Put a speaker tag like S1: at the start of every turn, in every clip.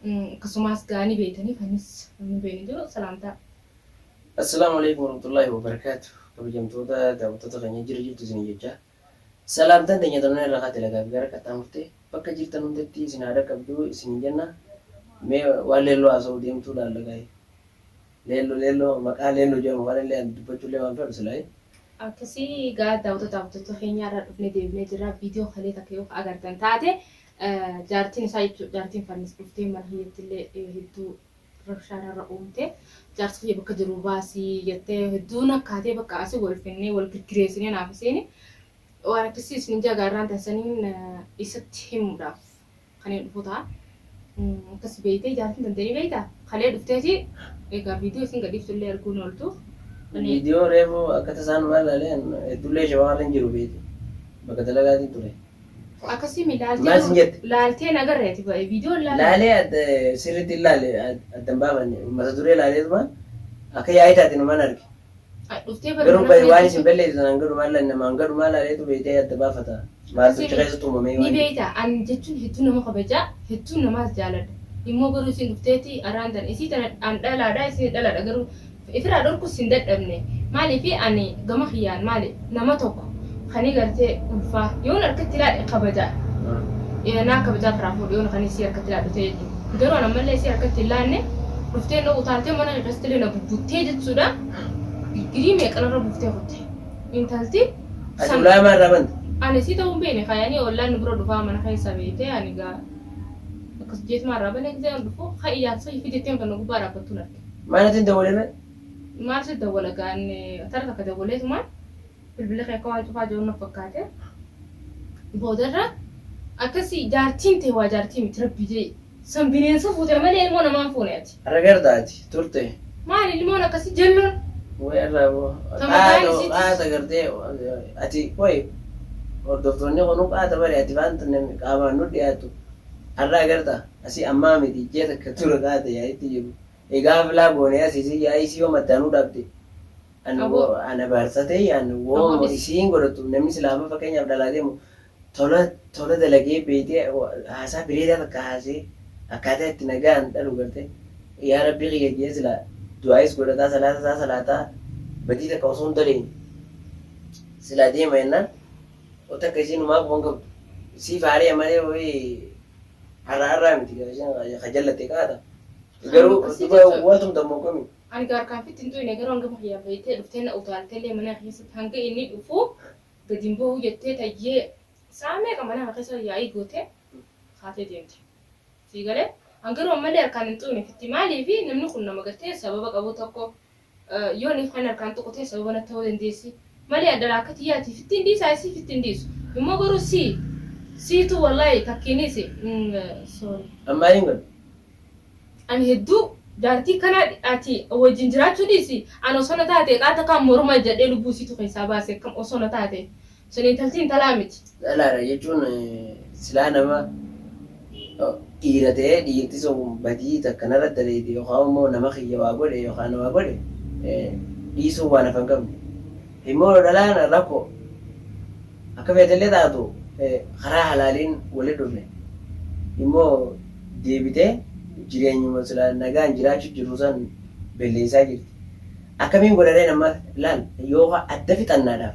S1: Akkasumaas gaa ni beeytanii kanis namni hin beeyne jiru salaamtaa. Assalaamu
S2: Aleeykum Warahmatullaahi Wabarakaatu Kabajamtoota daawwattoota keenya jira jirtu isin jechaa Salaamtaan teenya tanaan irraa kaate lagaa fi gara qaxxaamurte bakka jirtan hundatti isin haa dhaqqabdu isin jenna mee waan leelloo haasa'uu deemtuu laalla gaa'e leelloo leelloo maqaa leelloo jedhamu waan illee ani dubbachuu illee waan fedhu silaayi. Akkasii
S1: gaa daawwattoota daawwattoota keenya irraa dhufnee deebinee jirra viidiyoo kalee takka yoo agartan taate Jaartiin isaa jechuun jaartiin Fannis dhuftee mana kiyyatti illee hedduu rabshaa narra uumte. Jaarsa kiyya bakka jiru baasi jettee hedduu nakkaatee bakka asi wal finnee wal girgireessinee naaf isiin waan akkasii isin jagaa irraan tansaniin isatti himuudhaaf kan hin dhufu ta'a. Akkas beeytee jaartiin tantanii beeyta kalee dhufteeti egaa viidiyoo isin gadhiiftu illee arguu hin ooltu. Viidiyoo
S2: reefu akka tasaan waan ilaaleen hedduu illee shawaa irra hin jiru beeyte bakka dalagaatiin ture. Akkasii mi
S1: laaltee Maal sin moo jette?
S2: laaltee hin agarre ati
S1: ba'e viidiyoon laalee. Laalee adda
S2: sirriitti hin laale adda hin baafanne mata duree laaleetumaan akka yaa'ii taate numan arge. Ati dhuftee bari
S1: Garuu mana bayi waan isin bareechisu.
S2: belleessitan hanga dhumaa laale nama hanga dhumaa laaleetu beektee adda baafata. Maaltu achi keessatti uumamee Ni waan jedhu. beekta an
S1: jechuun hedduu nama kabaja hedduu namaas jaaladha. Immoo garuu isin dhufteeti arraan tan isii tana an dhalaadha isin dhalaadha garuu Ifirraa dhorkus hin dadhabne. Maaliif ani gama kiyyaan maali nama tokko kani gartee ulfaa yoon harkatti laadhe kabaja naa kabajaa firaa fuudhe yoon kani isii harkatti laadhu ta'e jechuudha. Garuu an ammallee isii harkatti hin laanne dhuftee na utaaltee mana kee keessatti illee na bubbuttee jechuudha. Digirii meeqan irra buuftee kutte intalti Ati san
S2: ulaamaa irraa banta. ani isii ta'uu hin beekne
S1: kaayanii ollaan nu bira dhufaa mana keessa beektee ani gaa akkas jeetumaa irraa banee gisee an dhufu ka iyyaatu sahii fideetteen kan na gubbaa dhaabbattuun arge. Maal natti hin dawwalee mee?
S2: Maal si
S1: dawwala gaan tara takka dawwalee tumaan bilbila kee akka waan cufaa jiru na fakkaate. Boodarra akkasi jaartiin tee waa jaartii miti rabbi jee san bineensa fuute malee ilmoo namaan fuune ati. Ragarda ati turte.
S2: Maali ilmoon akkasi
S1: jalloon. Way irraa
S2: boo. Kan mataan Qaata isiitis. qaata gartee ati way hordoftoonni kunuu qaata bari ati waan namni qaamaan nu dhiyaatu har'a agarta. Asi ammaa miti ji'a takka dura taate yaa'itti jiru egaa aflaa goone asi isin yaa'ii si yoom addaan nu dhaabde an Aboo. an abaarsa ta'e an Aboo wooma dhis. isiin godhattu namni silaa amma fakkeenyaaf dhalaa deemu tola tola dalagee beeytee wa- haasaa bireedaa takka haasee akkaataa itti nagaan dhalu garte yaa rabbii kiyya jee silaa du'aayis godhataa salaata isaa salaataa badii takka osoo hin daleyne silaa deema jennaan takka isiin humaa quban qabdu siif haari'a malee wayii Arraa arraa miti gaa isheen kaa ka jallatte kaa ta. Garuu dhugaa waa tumta moo kami. Ani gaa harkaan fitti hin
S1: tuyne garuu hanga kiyyaa beeytee dhuftee na utaalte illee mana keessatti hanga inni dhufu gadi hin ba'uu jettee tayyee sa'a meeqa mana kana keessa yaa'ii gootee kaatee deemte. Sii galee? An garuu ammallee harkaan hin tuyne fitti maaliif namni kun nama gartee sababa qabu tokko Yoo niif kan harkaan tuqu ta'e sababa natti ta'uu dandeessi. Malee addaraa akka tiyyaati fittiin dhiisaa isii fittiin dhiisu. Immoo garuu sii siitu wallaahi takkiinis sorry. An maaliin godhe?
S2: Ani
S1: hedduu jaartii kana ati wajjin jiraachuu dhiisi an osoo na taate eqaa takkaa morma ijjadhee lubbuu isiitu keessaa baase akkam osoo na taate Sun intalti intalaa miti. Dhalaadha jechuun
S2: silaa nama dhiira ta'ee dhiirti sun badii takka narratti dalayde yookaan immoo nama kiyya waa godhe yookaan na waa godhe dhiisuun waan hafa hin qabne. Immoo dhalaan rakkoo akka feete illee taatu karaa halaaliin walitti dhufne immoo deebitee jireenyuma silaa nagaan jiraachuu jirru san belleessaa jirti. Akkamiin godha ree amma laal yoo adda fixannaadhaaf.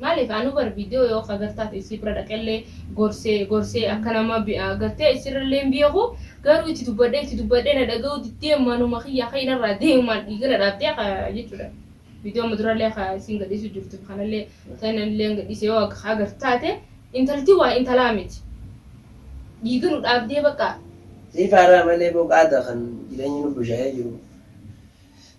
S2: Malif
S1: anu bar video yoo ka gartaaf issi bira dhaqelle gorse gorse akka nama gartee issi irralle hin beeku garuu itti dubbadhe itti dubbadhe na dhagahu diddee manuma kiyya ka'in irraa deemumaan dhiiga na dhaabdee ka jechudha video amma duralle ka issin gadhiisu jirtu kanalle tan illee gadhiise yoo ka agar taate intalti waa intalaa miti dhiiga nu dhaabdee baqa. Sii faaraa
S2: malee boo qaata kan jireenya nu bushaayee jiru.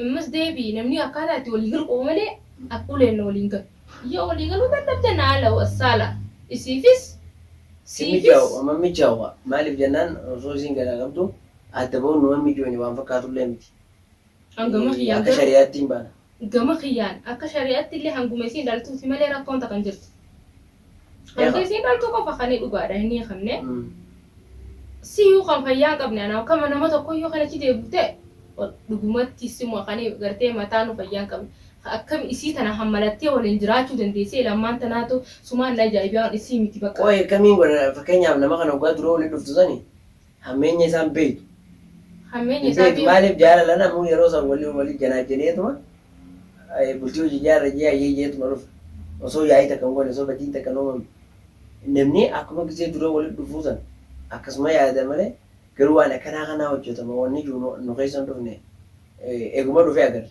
S1: Ammas deebi'i namni akkaataa itti walii galu qaba malee akka uleen na waliin galu. Yoo walii galuu dadhabde na ala wa saala isiifis Hin siifis.
S2: mijaa'u amma hin mijaa'u kaa maaliif jennaan osoo isiin garaa qabdu adda ba'uun numa hin mijoyne waan fakkaatullee miti An gama Ee,
S1: kiyyaan akka garuu shari'aatti hin baana.
S2: gama kiyyaan
S1: akka shari'aatti illee hanguma isiin dhaltuuti malee rakkoon takka hin jirtu. Wanti isiin dhaltuu qofa kan inni dhugaadhaan hin hiikamne. Siyyuu kan fayyaa hin qabne anaa kama nama tokkoyyuu kan achi deebifte dhugumatti sima kan gartee mataanuu fayyaa hin qabne. Akkam isii tana hammalattee waliin jiraachuu dandeessee lammaan tanaatu sumaan na ajaa'ibee waan isii miti bakka. Qoy akkamiin godha
S2: fakkeenyaaf nama kana hoggaa dura waliin dhuftu sani Hammeenya isaa hin beektu. Hammeenya Hin
S1: isaa beektu beektu. maaliif jaalala namuu
S2: yeroo san wali wali janaajaneetuma eh, bultii hojii ijaarra jee hayyee jeetuma dhufa. Osoo yaa'ii takka hin goone osoo badiin takka hin uumamne. Namni akkuma gizee dura wali dhufuu san akkasuma yaada malee garuu waan akkanaa kanaa hojjatama wanni jiru nu nu keessa hin dhufne. Eh, Eeguma dhufee agarre.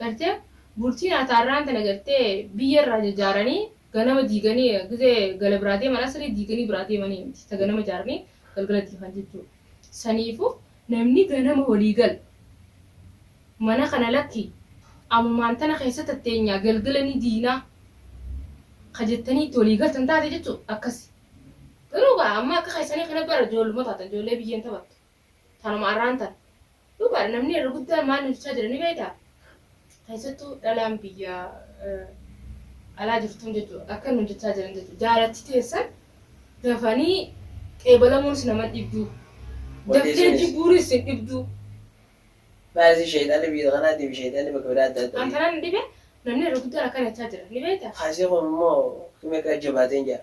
S1: Gartee bultiin ataarraan tana gartee biyya irraa jajaaranii ganama diiganii gizee gala biraa deeman asrii diiganii biraa deemanii miti ta ganama jaaranii galgala diigan jechuu saniifu namni ganama walii gal mana kana lakki amumaan tana keessa tatteenyaa galgala ni diinaa ka jettanii itti walii galtan taate jechuu akkasi garuu gaa amma akka keessanii kana bara joolluma taatan joollee biyyeen taphattu Tanuma arraan tana. Dhugaadha namni irra guddaan maal nu jechaa jira ni beektaa? Keessattuu dhalaan biyya alaa jirtuun jechuudha. Akka nu jechaa jiran jechuudha. Jaalachi teessan dafanii qeebalamuunis nama dhibduu. Daftee jibbuunis sin dhibduu.
S2: Baay'ee sheexanni biyya kanaatti fi sheexanni bakka biraa adda adda. An kanaan dhibe namni
S1: irra guddaan akkana jechaa jira ni beektaa? Kaasee kun immoo
S2: himee akka jabaatee hin jira.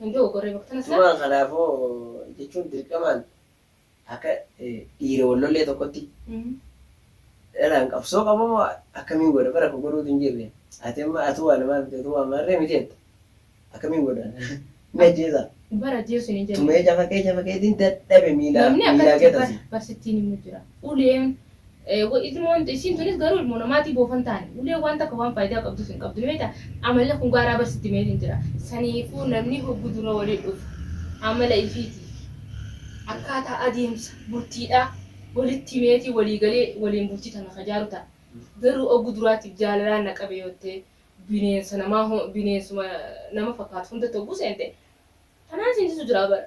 S1: Hin dogoggorree bakka sana Tumaa kanaafoo
S2: jechuun dirqamaan akka eh, dhiira wal lollee tokkotti Mm. dhalaan qabsoo qaba moo akkamiin godha bara koo godhuutu hin jirre ati amma atuu waa namaa miti atuu waa maarree miti jetta akkamiin godha ni ajjeesa Bara ajjeesuun hin jedhamu.
S1: tumee cafa kee cafa keetiin
S2: dadhabe miilaa Namni miilaa akkatti gatasi. barsittiin
S1: immoo
S2: jira.
S1: Uleen Wa ilmoon isiin tunis garuu ilmoo namaatii boofan taani ulee waan takka waan faaydaa qabduuf hin qabdu ni beekta amalli kun gaaraa bar sitti meeliin jira saniifuu namni hoggu dura wali dhufu amala ifiitii akkaataa adeemsa bultiidhaa walitti himeetii walii galee waliin bultii tana ka jaaru ta'a garuu oggu duraatiif jaalalaan na qabe yoottee bineensa namaa bineensuma nama fakkaatu hundatti hogguu seente tanaan seensisu jiraa bara.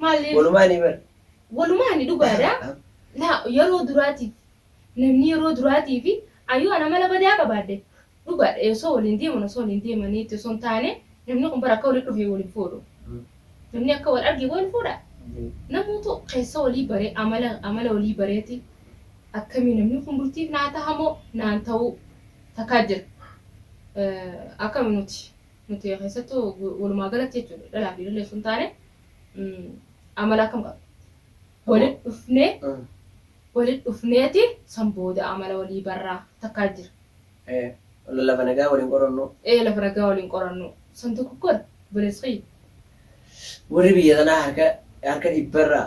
S1: Maaliif? Walumaanii bar.
S2: Walumaani dhugaadha.
S1: Laa yeroo duraatiif namni yeroo duraatiif ayyoo ana mala badaa qabaadde dhugaadha osoo waliin deeman osoo waliin deemaniitti osoo hin taane namni kun bara akka waliin dhufee waliin fuudhu. Namni akka wal argee waliin fuudha. Namoota keessa walii baree amala amala walii bareeti akkamii namni kun bultiif naa tahamoo naan ta'uu takkaa jira. Akkami nuti? Nuti keessattuu walumaa galatti jechuudha dhalaa fi dhalli osoo hin taane amala akkam qabna. Walitti dhufnee walitti dhufneeti san booda amala walii barraa takkaa jira.
S2: Lafa nagaa waliin qorannu. Ee lafa nagaa waliin
S1: qorannu. San tokko kun obboleessa kiyya.
S2: Warri biyya kanaa harka harka dhibbarraa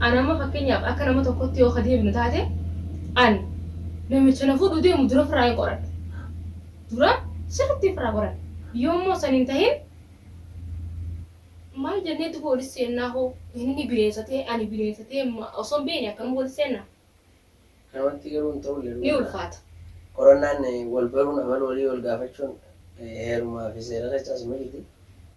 S1: An amma fakkeenyaaf akka nama tokkotti yoo ka deebinu taate an namicha na fuudhuu deemu dura firraa hin qoradha. Dura sirriitti hin firraa qoradha. Yoo immoo san hin tahin maal jennee duba wali seennaa hoo inni bineensa ta'ee ani bineensa ta'ee osoo hin beekne akkanuma wali seennaa? Namatti
S2: garuu hin ta'u illee Ni ulfaata.
S1: Qorannaan
S2: wal baruun amala walii wal gaafachuun heerumaa fi seerarra caasu miti.